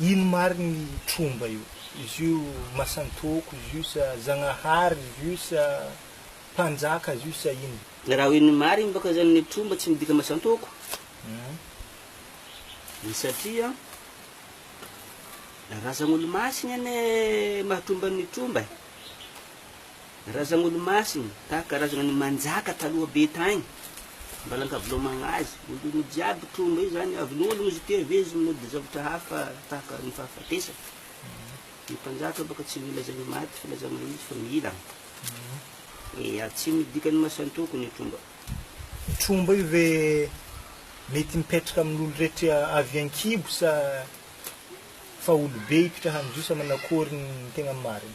Ino marigny i tromba io? Izy io masan-tôko izy io sa zagnahary izy io sa mpanjaka izy io sa ino? Raha hoe ny marigny bôka zany ny tromba tsy midika masan-tôko e satria razan'olo-masigny anie maha tromba ny tromba e! Razan'olomasina, tahaka karazana ny manjaka taloha be tagny, Ambalankavilomagna azy, olono jiaby tromba io zany, avy nolono izy teo avy eo izy nody zavatra hafa tahaka ny fahafatesana, ny mpanjaka baka tsy mila zany maty fa laza mahintsy fa mila, ya tsy midika ny masan-toko ny tromba. Tromba io ve mety mipetraka amin'olo rehetra avy ankibo sa fa olo be hipitrahan'zo sa manakory ny tegna marigny?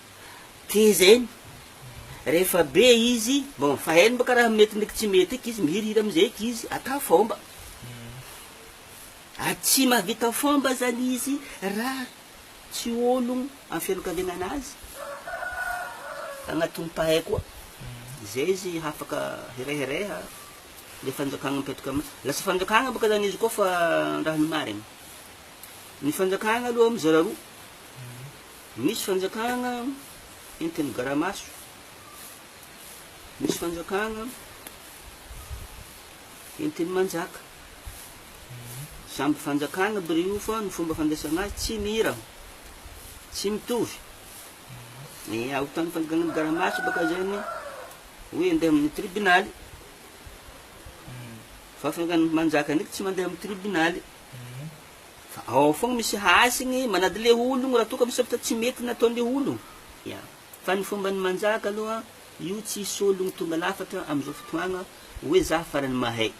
Teza eny rehefa be izy bon fa hainy baka raha mety ndraiky tsy mety eky izy mihirihira amizay eky izy ata fomba ary tsy mahavita fomba zany izy raha tsy ologno am fianakaviagnana azy agnatim pahay koa zay izy hafaka hirehareha le fanjakagna mipetraka am lasa fanjakagna baka zany izy koa fa raha ny marigny ny fanjakagna aloha mizara roa Misy fanjakana entin'ny gara-maso, misy fanjakana entin'ny manjaka. Samby fanjakana biriou fa ny fomba fandraisana azy tsy mihirana, tsy mitovy. Ny aotan'ny fanjakan'ny gara-maso baka zay ny hoe andeha amin'ny tribonaly, fa fanjakan'ny manjaka ndraiky tsy mandeha amin'ny tribonaly. fa ao fogna misy hasiny manady le ologno raha toa ka misy zavatra tsy mety nataon'le ologno, ya, fa ny fomban'ny manjaka aloha io tsisy ologno tonga lafatra am'zao fotoagna hoe za farany mahay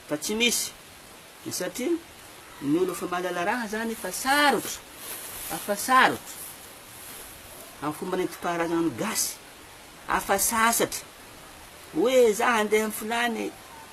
fa tsy misy satria ny olo efa mahalala raha zany efa sarotra afa sarotra am fomba nentim-paharazanan'ny gasy afa sasatra hoe za handeha am filany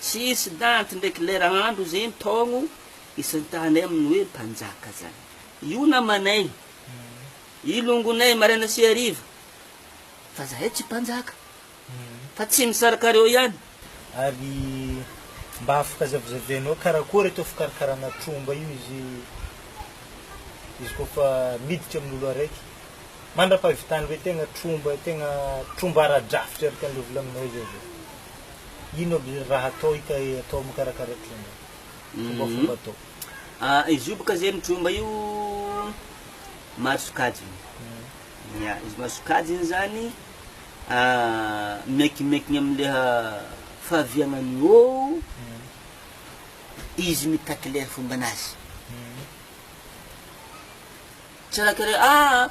Tsisy daty ndraiky lera andro zegny taogno isan-tany amin'ny hoe mpanjaka zany. Io namanay, io longonay maraina sy hariva, fa zahay tsy mpanjaka, fa tsy misaraka reo ihany. Ary mba afaka zavazavainao karakory atao fikarakarana tromba io izy izy koa fa miditra amin'ny olo araiky? Mandra-pahavitan'ireo tegna tromba tegna tromba ara-drafitra araka an'ireo volagninao zay ve? Ino aby raha atao hitahy atao mikarakara tromba? Fombafomba atao. Ah, izy io bôka zegny tromba io maro sokajiny. Ya, izy maro sokajiny zany miankimankigny am'le fahaviagnan'ny ôo izy mitaky le fombanazy. Tsiaraka re ah!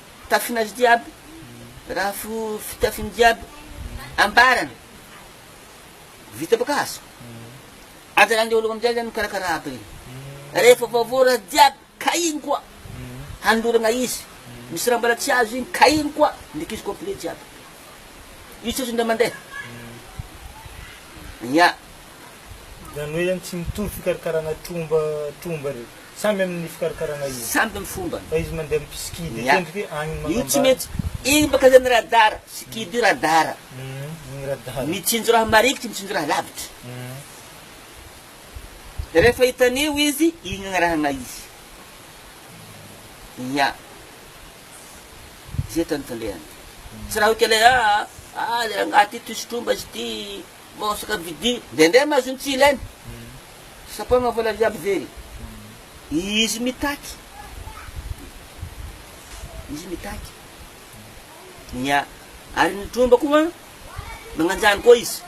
Fitafin'azy jiaby, raha fo fitafiny jiaby ambarany, vita boka hazo. Aza lany daholo amin'izay zany mikarakara aby reny. Rehefa vaovao raha jiaby, ka iny koa hanolorana izy. Misy raha mbola tsy azo iny, ka iny koa ndriky izy complet jiaby. Io tsy azo indray mandeha. Ia. Zany hoe zany tsy mitovy fikarakarana tromba tromba reny. Samy amin'ny fikarakarana izy. Samy amin'ny fombany. Fa izy mandeha amin'ny skidy dia tendry ve agny no magnambara. Io tsy mety. Igny baka zany radara. Skidy io radara. Igny radara. Mitsinjo raha marikitry, mitsinjo raha lavitry. Rehefa hitan'io izy, igny agnarahagna izy. Ia. Zay tany tandrehany. Tsy raha hoe kely hoe aa, aa le rangahy ty toy sotromba izy ty. Maosaka vidy ndraindray ma zony tsy ilaina sapaina vola jiaby very izy mitaky izy mitaky ny a ary ny tromba koa magnanjany koa izy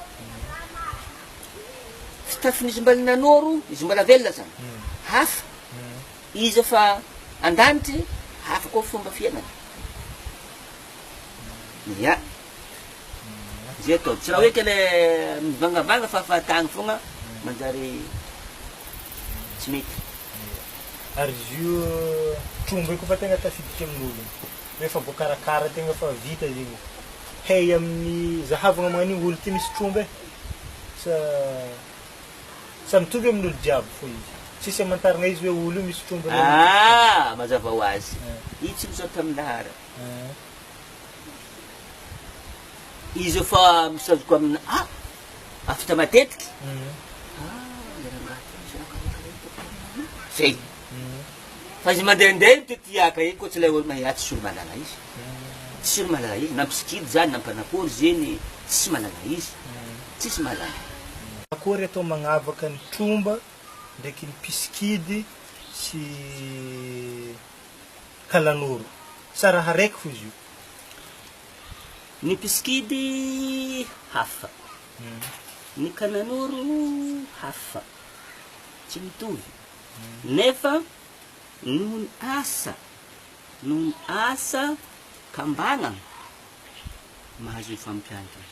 fitafin'izy mbala nanoro izy mbala velona zany hafa izy efa an-danitry hafa koa fomba fiainany ya Zay ataovy. Tsy raha hoe kle mivangavanga fa fahatany fogna manjary tsy mety. Ary izy io tromba io kôfa tegna tafiditra amin'ologno, rehefa voakarakara tegna fa vita zegny izy, hay amin'ny zahavagna magnan'io olo ty misy tromba e? sa sa mitovy amin'olo jiaby fô izy? Tsisy amantaragna izy hoe olo io misy tromba na. Aah mazava ho azy, io tsy misaotra amin'ny lahara. Izy efa misazoka amina a afita matetiky zay fa izy mandehandeha io tetiaka iny koa tsy ilay olona ihaty tsy olo-malala izy tsy olo-malala izy na mpisikidy zany na mpanakory zeny tsy malala izy tsisy malala akory atao magnavaka ny tromba ndraiky ny mpisikidy sy Kalanoro. Sa raha reko fo izy io? Ny mpisikidy hafa. Ny Kananoro hafa. Tsy mitovy. Nefa noho ny asa, noho ny asa kambanana, mahazo io fampiantrana.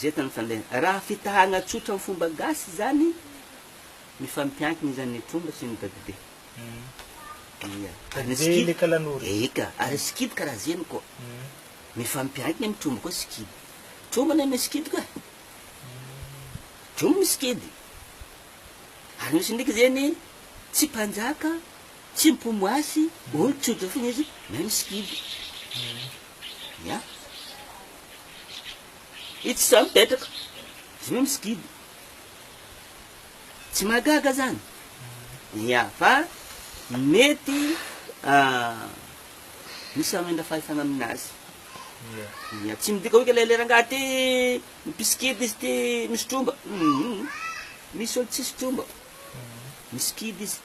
Zetany fa le raha fitahana tsotra am fomba gasy zany mifampiankina izany ny tromba sy ny dadibe ia Dadibe le kalanoro e ika ary sikidy karaha zeny koa mifampiankina am tromba koa sikidy tromba anie misy sikidy ka tromba misy sikidy ary misy ndriky zeny tsy mpanjaka tsy mpomoasy olo tsotra fona izy na misy sikidy ia. Itsy zao mipetraka zony misy gidro. Tsy mahagaga zany. Ia, fa mety misy hamindra fahefana aminazy. Ia, tsy midika hoe ilay rangahy ty mpisikidy izy ty misy tromba. Misy olo tsisy tromba. Misy kidy izy.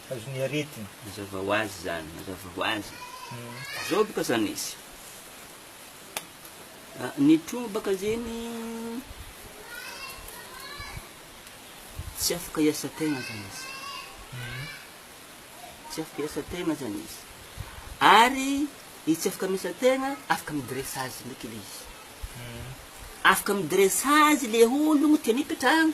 azon'ny aretina. Mazava ho azy izany, mazava ho azy. Zao boka zany izy. Ny tromba baka zegny tsy afaka hiasa tegna zany izy. Tsy afaka hiasa tegna zany izy. Ary i tsy afaka miasa tegna, afaka midressage ndraiky le izy. Afaka midressage le ologno tiany hipetrahagna.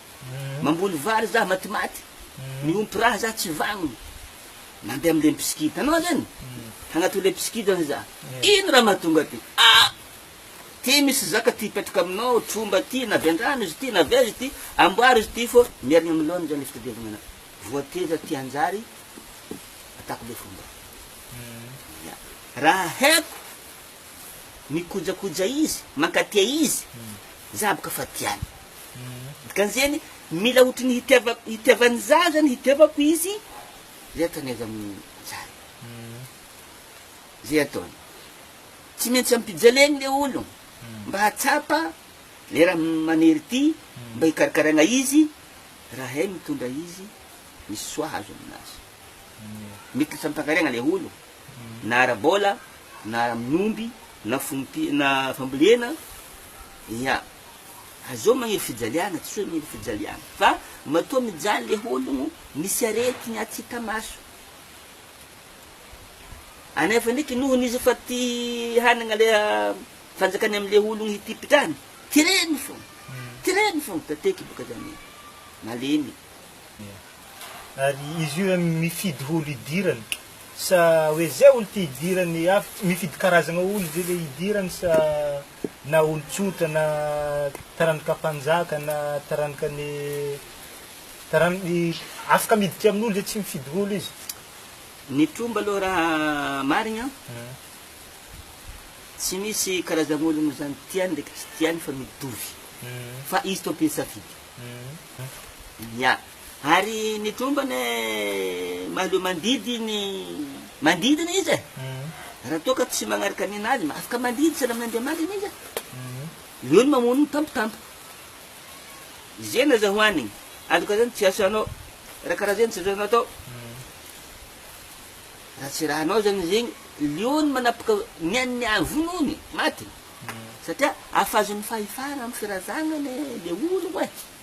Mamboly vary za matimaty, miompy raha za tsy vagnona, mandeha amle mpisikida anao zany hagnatao le mpisikida ve za? Ino raha mahatonga ty? Ah! Ty misy zaka ty hipetraka aminao, tromba ty, na avy andrano izy ty, na avy aiza ty, amboary izy ty fô mierigna amy laoniny zany le fitadiavagna anao. Voateza ty hanjary ataoko le fomba. Ya. Raha haiko mikojakoja izy, mankatia izy, za boka fa tiany. Dikan'izeny, mila ohatry ny hitiavan'ny zaza ny hitiavako izy izay ataony avy amin'ny tsara. Izay ataony. Tsy maintsy ampijaleny ilay olona mba hahatsapa ilay raha maniry ity, mba hikarakaraina izy, raha hay mitondra izy, misy soa azo aminazy. Mety ho fampakariana ilay olona, na ara-bola, na amin'ny omby, na fambolena, ia. Azao magniry fijaliana tsy hoe mila fijaliana fa matoa mijaly le ologno misy aretigny atsy hita maso anefa ndreky nohony izy efa ty hanagna le fanjakany amle ologno hitipitrany tireny fogna tireny fogna tateky boka zany e malemy Ary izy io zany mifidy olo hidirany sa hoe zay olo ty hidirany avy mifidy karazagna olo zay le hidirany sa. na olon-tsotra na taranaka mpanjaka na taranaka ny taranaka afaka miditra amin'olo zay tsy mifidy olo izy. Ny tromba aloha raha marigny an, tsy misy karazan'ologno zany tiany ndraiky tsy tiany fa mitovy fa izy tompon'ny safidy. Ia. Ary ny tromba anie mahaleo mandidy ny mandidina izy e! Raha toa ka tsy magnaraka ny nady, afaka mandidy tsy lamin' Andriamanitra izy e! Leo ny mamono ny tampotampoka. Izegny aza hohanigny, aloka zany tsy asanao, raha karaha zegny tsy azonao atao. Raha tsy raha anao zany zegny, leo ny manapaka ny an'ny avonony, maty, satria afa azon'ny fahefana amin'ny firazagnany le ologno e!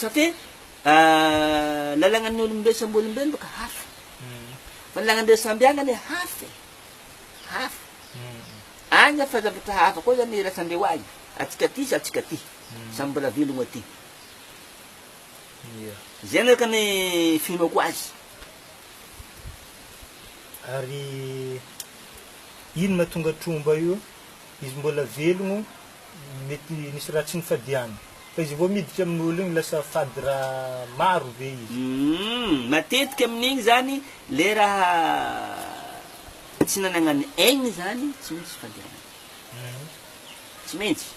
Satria lalagnan'ny olombelo samby olombelo boka hafa fa ny lagnan'ireo samby agny anie hafa e, hafa agny efa zavatra hafa koa zany iraisandreo agny, atsika aty sy atsika aty samby mbola velogno aty, zegny araka ny finoako azy. Ary ino mahatonga tromba io, izy mbola velogno Mety nisy raha tsy nifadiana. Fa izy vao miditra amin'ny olo iny lasa fady raha maro ve izy? Humm matetika amin'igny zany le raha tsy nanagnany aigny zany tsy maintsy fadianana. Tsy maintsy.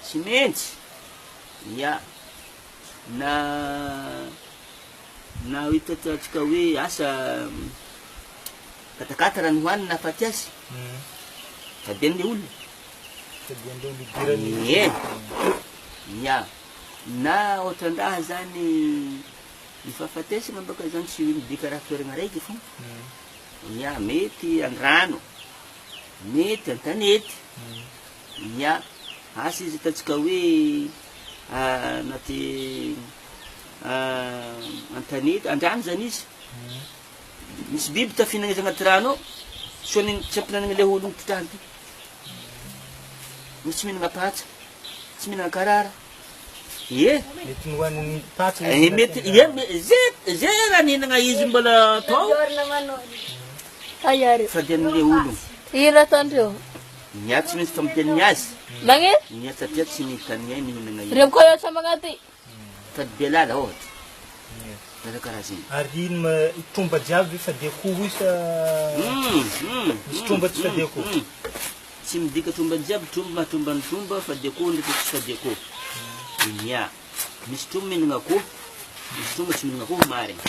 Tsy maintsy. Ya. Na. Na ho hitantsika hoe asa katakata raha ny ho an'ny nahafaty azy, tadiavin'ilay olona. Tadiavin'ilay olona idirany iny. Ie, ia. Na ohatran-draha izany ny fahafatesana mbaka izany tsy midika raha toerana raiky foana. Ia, mety an-drano, mety an-tanety, Ia, asa izy ataontsika hoe anaty an-tanety, an-drano izany izy, misy biby tafihinana izy anaty rano ao, sao ny tsy ampihinanana ilay olona mipitraha an'ity. Misy tsy mihinana patsa, tsy mihinana karara. Ie, Mety nohanin'ny patsa izy. eh, mety, ie, me- ze, ze raha nihinana izy mbola tao, fa dia an'ilay olona. Ino ataondreo? Ny ahy tsy misy famotiany ny azy. Magne. Ny ahy satria tsy nihita ny ahy nihinana iny. Revoko eo sambagna aty. Tady Belala ohatra. Raha karaha zegny. Ary ino ma i tromba jiaby efa de akoho io sa misy tromba tsy fady akoho? Tsy midika tromba jiaby tromba maha tromba ny tromba fady akoho ndreky tsy fady akoho. Inià. Misy tromba mihinagna akoho, misy tromba tsy mihinagna akoho marigny.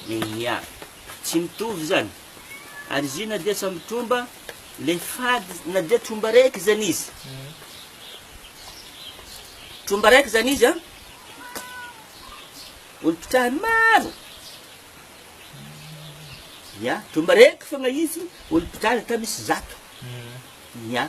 Inià. Tsy mitovy zany. Ary izy io na dia samy tromba le fady na dia tromba raiky zany izy tromba raiky zany izy a olom-pitrahany maro ya tromba raiky fogna izy olom-pitrahany ata misy zato ya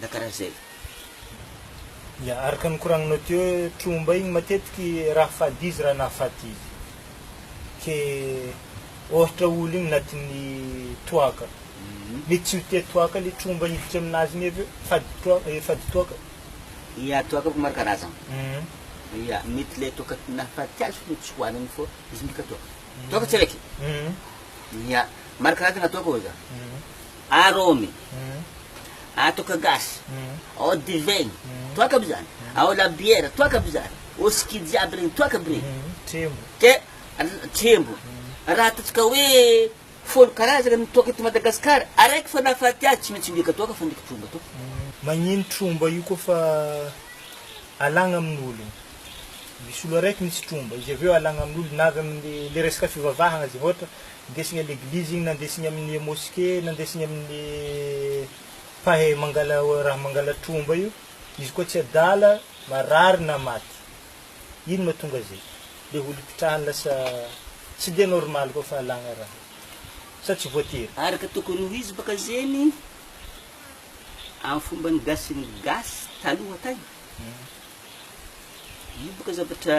na karaha zay. Ya, araka ny koragninao teo hoe tromba igny matetiky raha fady izy raha nahafaty izy. Ke ohatra olo igny natin'ny toaka, mety tsy ho tia toaka le tromba hiditra aminazy igny avy eo, fady troa- eh, fady toaka. Ya, toaka ko maro karazagna. Ya, mety le toaka nahafaty azy fô tsy hoanigny fô izy midika toaka. Toaka tsy araiky. Ya, maro karazagna toaka ô zah. Aromy, atoka gasy, ao divaigny, toaka aby zany, ao labiera, toaka aby zany, whisky jiaby regny, toaka aby regny. Ke, trembo. Raha ataontsika hoe folo karazagna ny toaka eto Madagasikara, araiky fa nahafaty azy tsy maintsy mihiaka toaka fandriky tromba tompoko. Magnino tromba io kôfa alagna amin'ologno? Misy olo araiky misy tromba, izy avy eo alagna amin'olo na avy amin'ny le resaka fivavahagna zegny ôhatra, Ndesigny à l'église igny na ndesigny amin'ny mosquée na ndesigny amin'ny mpahay mangala raha mangala tromba io, izy koa tsy adala marary na maty, ino mahatonga zay? le olo ipitrahany lasa tsy dia normal koa fahalagna raha sa tsy voatery? Araka tokony ho izy baka zegny am fombany gasiny gasy taloha tagny, io baka zavatra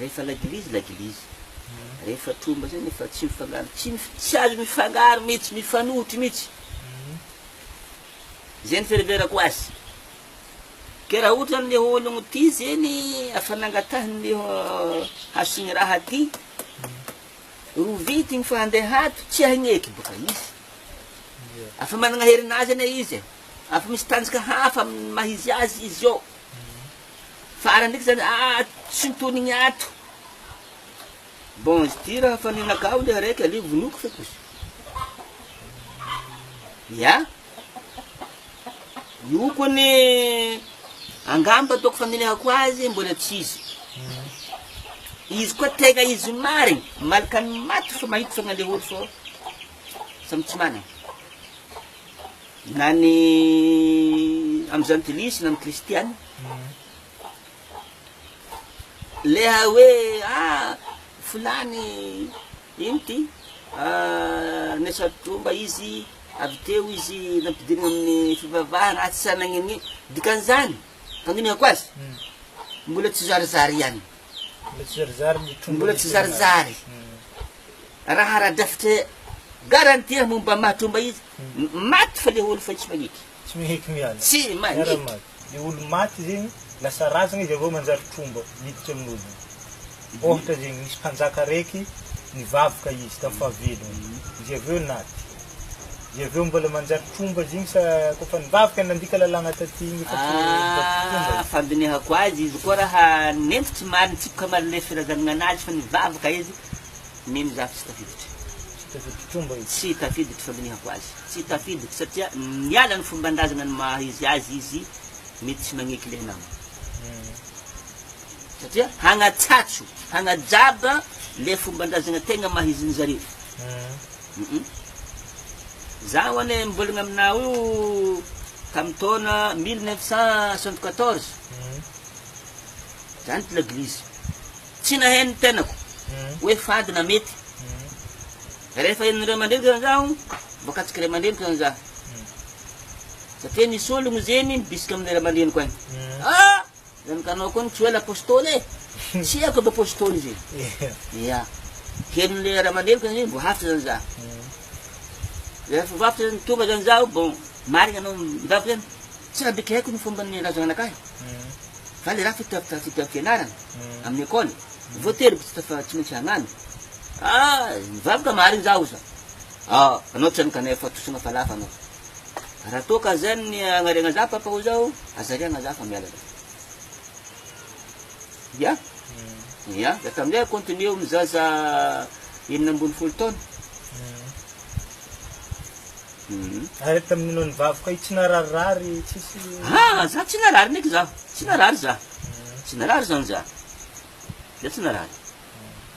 Rehefa laglizy laglizy. Rehefa tromba zay nefa tsy mifangaro tsy mif tsy azo mifangaro mitsy mifanohitry mitsy zay ny fihereverako azy ke raha ohatra zany le ologno ty zeny afa nangatahiny le hasigny raha ty ro vitigny fa ande hato tsy hagneky boka izy afa managna herinazy ane izy e afa misy tanjoka hafa aminy maha izy azy izy eo Farany ndraiky zany ah tsy nitonigny ato. Bon izy ty raha fa nenakao le araiky aleo vonoiko fa kosa ya io ko anie angamba ataoko faminehako azy mbola tsy izy izy koa tegna izy marigny malaka ny maty fa mahita fa nandeha olo fô samy tsy managna na ny amin'ny zantilisy na ny kristiana le hoe a ah, filany ino ty ah, nesatromba izy avy teo izy nampidirina amin'ny fivavahana atsy sanagnini dikan'izany fandinika ko azy hmm. mbola tsy zarizary ihany Mbola tsy zarizary. Raha ara-drafitra garantie momba mahatromba izy, maty fa le olo fa tsy maneky. Tsy maneky miala. Tsy maneky. Le olo maty zegny, lasa razagna izy avy eo manjary tromba miditra amin'olona. Ohatra zegny, misy mpanjaka araiky nivavaka izy tamin'ny fahavelony, izy avy eo naty. Dia avy eo mbola manjary tromba izy iny sa koa fa nivavaka nandika lalàna taty iny efa tsy tromba e? Fandinihako azy, izy koa raha nentiko tsy marina, nitsipika marina ilay firazanana anazy fa nivavaka izy, mino za fa tsy tafiditra. Tsy tafiditra tromba izy? Tsy tafiditra, fandinihako azy. Tsy tafiditra satria niala ny fomban-drazana ny maha izy azy izy mety tsy magneky ilay nama. Satria hagnatsatso, hagnajaba ilay fomban-drazana tegna maha izin'ny zareo. Izaho anie mbola aminao io tamin'ny taona mille neuf cent soixante quatorze, zany l'eglise. Tsy naheno ny tenako hoe fady na mety. Rehefa henon'ny ray aman-dreniko zany zaho, voakatsiky ray aman-dreniko zany zaho. Satria nisy olona zegny nibisika amin'ny ray aman-dreniko any. Zany ka anao koa no tsy hoe l'apostoly e! Tsy haiko aby apostoly izy e! Ia. Henon'le Ramaneno ka zany mbo hafatra zany za. Rehefa hafatra zany tonga zany zaho bon marigna anao midavaka zany tsy raha bika haiko ny fomba nilaza zanaka ahy fa le raha fitafi- fitafianarana amin'ny école voatery tsy tafa- tsy maintsy hagnano ah nivavaka marigny zaho oza ah anao tsy hagnano kanefa tosogna falafa anao. Raha toa ka zany ny agnariagna za papa o zao, azariagna za fa miala za. Ya? Ya, de tamzay a continuer eo am zaza enina ambin'ny folo taona. Ary tamin'ny noho ny vavy koa i tsy nararirary tsisy Ah! Za tsy narary ndreky za, tsy narary za, tsy narary zany za, za tsy narary.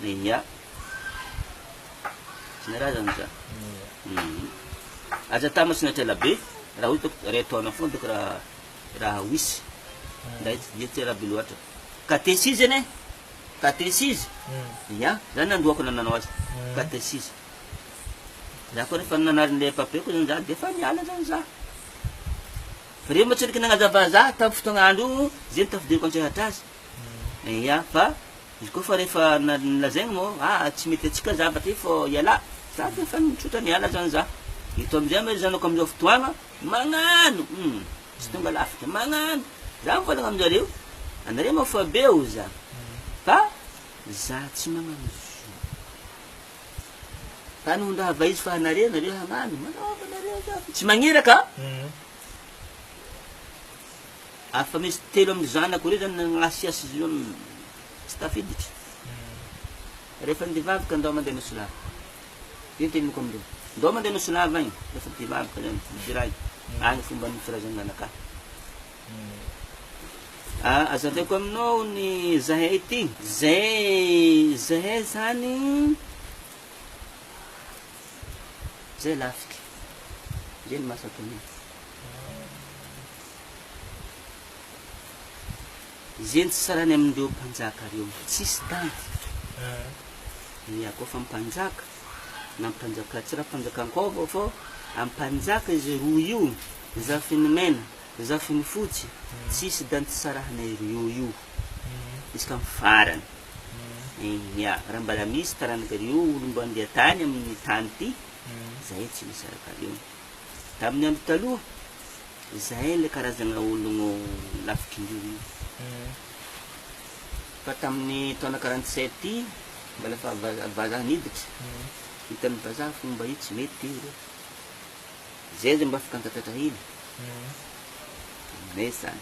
Ia. Tsy ny raha zany za. Aza atambatra na trela be raha ohatra ka iray taona foana ataoko raha raha wisy. Ndray tsy dia trela be loatra. Katesizy anie, katesizy, ia, za nandroako na nanao azy, katesizy. Za koa rehefa nanarin'ilay pape koa zany za defa niala zany za. Fa reo moa tsy nanaky nanazava za tam fotoagna andro io ze ny tafidiriko antsehatra azy. Eia fa izy koa fa rehefa nolazainy mo ah tsy mety atsika zava ty fô iala za fa efa mitrotra miala zany za eto amizay mo ry zanako amizao fotoagna magnano hum tsy tonga lafatra magnano za mivôlagna aminjareo anareo mo fa be o za fa za tsy magnano zo fa no ndraha va izy fa anareo nareo hagnano manaova nareo za fa tsy magniraka. ary fa misy telo amin'ny zanako ireo zany nagnasiasy izy ireo tsy tafiditra rehefa nde vavy ka ndao mandeha Nosilava io teniko amindreo ndao mandeha Nosilava agny rehefa te vavy ka zany midiray agny fomba ny firazan'ny nanakà ah, azaveko aminao ny zahay ty zay zahay zany Zay lafika. Zay ny maso atao mihitsy. Zay ny tsy sarany amin'ireo mpanjaka reo. Tsisy tanty. Ny akao fa mpanjaka na mpanjaka tsy raha mpanjaka an-kôva fô am mpanjaka izy roa io, zafiny mena, zafiny fotsy, tsisy danty sarahanay roeo io. Izy ka am farany. Eny, raha mbala misy taranakareo olom-bandia tany amin'ny tany ity, izahay tsy misy arakareo. Tamin'ny andro taloha, izahay ilay karazana ologno lavitr'indreo io. Fa tamin'ny taona quarante-sept iny, mbala efa vazaha niditra, hitan'ny vazaha fa mba io tsy mety io re. Izay aza mba afaka nitatratra hina taminay izany.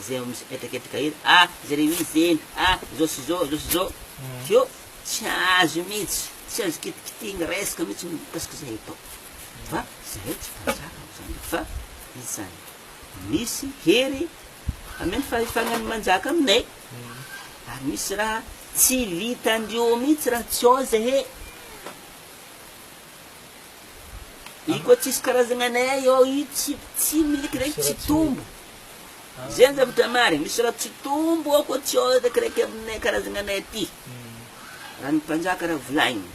izay ao misy hetraketraka eny, ah Jeremia zeny, ah izao sy izao, izao sy izao, feo tsy azo mihitsy, tsy azo kitikitihina resaka mihitsy mikasika izay atao, fa izahay tsy mpanjaka amin'izany eto fa izany misy hery hameno fahefana ny manjaka aminay, ary misy raha tsy vitandrio mihitsy raha tsy ao izay he. Iko tsisy karazagna anay ao io tsy tsy miliky ndraiky tsy tombo Zay ny zavatra marigny, misy raha tsy tombo ao koa tsy ao eto akiraiky aminay karazagna anay aty, raha ny mpanjaka raha volaigny,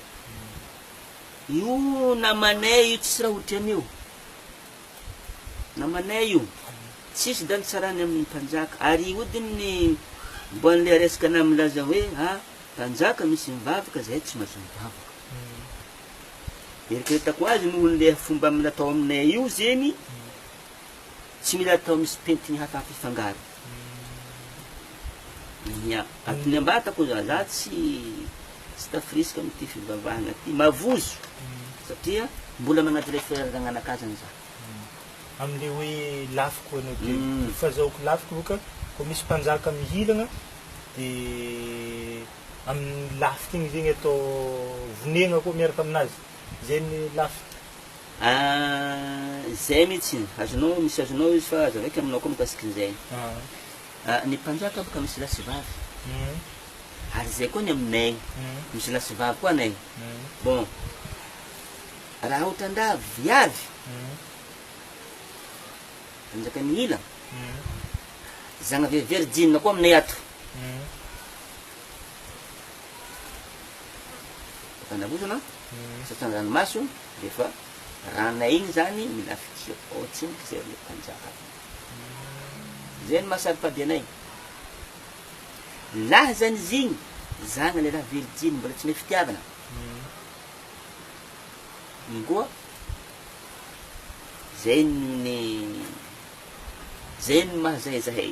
io namanay io tsisy raha ohatran'io, namanay io tsisy daly tsarany amin'ny mpanjaka, ary hodign'ny mbô an'le resaka anah milaza hoe a mpanjaka misy mivavaka zahay tsy mahazo mivavaka, eritreretako azy nohon'le fomba natao aminay io zegny, Tsy mila atao misy pentigny hafa ampifangaro. Ia. Atony ambata ko za, za tsy tsy tafirisika amty fivavahana ty. Mavozo satria mbola manaja le frère ragnanakazany za. Amle hoe lafy ko anao ty. Ny fazahoako lafy ko ka ko misy mpanjaka mihilagna de aminy lafy tegny zegny atao vonegna ko miaraka aminazy. Zay ny lafy. Ahh izay mitsiny, azonao misy azonao izy fa aza vaika aminao koa mikasikin'izay. Ahh ny mpanjaka boka misy lahy sy vavy ary izay koa ny aminay misy lahy sy vavy koa anay bon raha otrandraha viavy mpanjaka mihila zagna vehivehry jinina koa aminay ato. Fandavorana satria an-dranomaso dia efa ràna iny izany mila fidirana ao an-tsena izay ilay mpanjaka avy eo. Izay no maha-saro-pady anay. Lazany izy iny, zana lehilahy virijiny mbola tsy mahay fitiavana. Iny koa, izay no ny, izay no maha-zahay zahay.